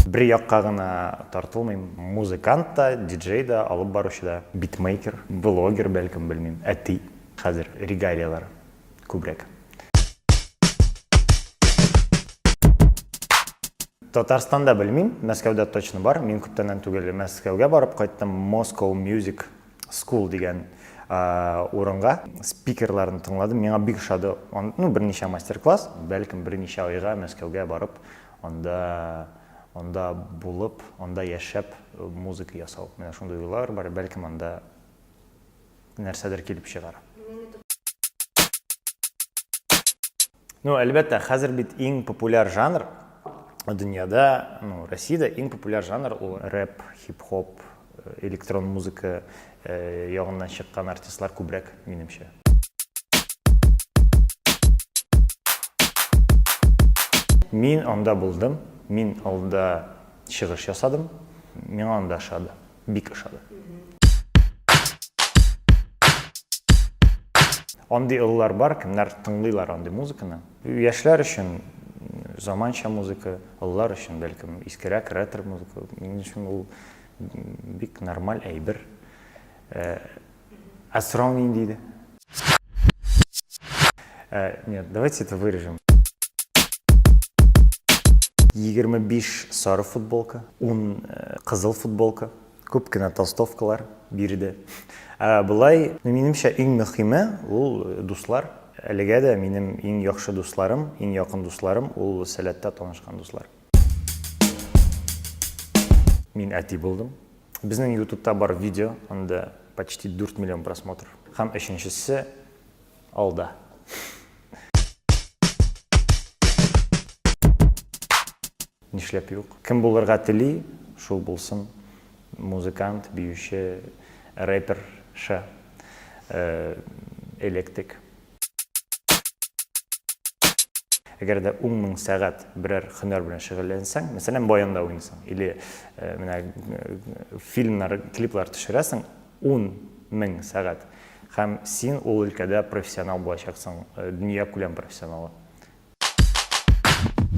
бер якка гына тартылмыйм музыкант та диджей да алып баручы да битмейкер блогер бәлкем белмим әти хәзер регалиялар күбрәк. Татарстанда белмим, Мәскәүдә точно бар. Мин күптәннән түгел Мәскәүгә барып кайттым. Moscow Music School дигән урынга спикерларын тыңладым. Миңа бик ошады. Ну, берничә мастер-класс, бәлкем берничә айга Мәскәүгә барып, анда анда булып, анда яшәп музыка ясау. Менә шундый уйлар бар, бәлкем анда нәрсәдер килеп чыгар. Ну, әлбәттә, хәзер бит иң популяр жанр дөньяда, ну, Россиядә иң популяр жанр ул рэп, хип-хоп, э, электрон музыка э, ягыннан чыккан артистлар күбрәк, минемчә. Мин анда булдым, мин алда чыгыш ясадым, миңа анда ошады. Бик ошады. Андый олылар бар, кемнәр тыңлыйлар андый музыканы. Яшьләр өчен заманча музыка, олылар өчен бәлкем искерәк ретро музыка. Минем өчен ул бик нормаль әйбер. Э, Ә сорау нинди иде? Ә, нет, давайте это вырежем. 25 сары футболка, 10 э, кызыл футболка, күп кенә толстовкалар бирде. Ә былай, ну, минемчә, иң мөхиме ул э, дуслар. Әлегә дә минем иң яхшы дусларым, иң якын дусларым ул сәләттә танышкан дуслар. Мин әти булдым. Безнең ютубта бар видео, анда почти 4 миллион просмотр. Һәм өченчесе алда. Нишләп юк? Кем булырга тели, шул булсын. Музыкант, биюче, рэпер, ша, э, электрик. Әгәр дә 10 мең сәгать берәр хөнәр белән шөгыльләнсәң, мәсәлән, баянда уйныйсың или э, менә э, фильмнар, клиплар төшерәсең 10 мең сәгать һәм син ул өлкәдә профессионал булачаксың, э, дөнья күләм профессионалы.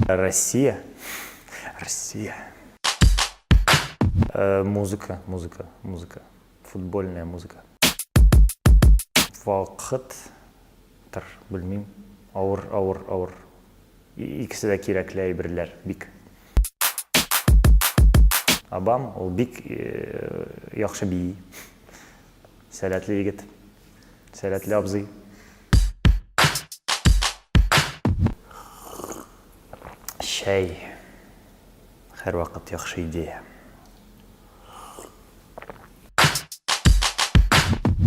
Россия. Россия. Музыка, музыка, музыка. Футбольная музыка. Вакыт тыр, белмим. Авыр, авыр, авыр. Икесе дә кирәкле әйберләр бик. Абам, ул бик яхшы бии. Сәләтле егет. Сәләтле абзый. Чәй. Һәрвакыт яхшы идея.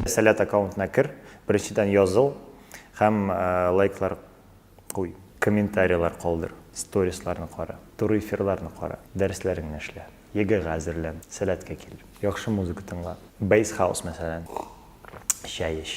Сәләт аккаунтына кер, беренчедән языл һәм лайклар куй, комментарийлар калдыр, сторисларны кара, туры эфирларны кара, дәресләреңне эшлә, ЕГЭга әзерлән, Сәләткә кил, яхшы музыка тыңла, Bass House мәсәлән, чәй эч.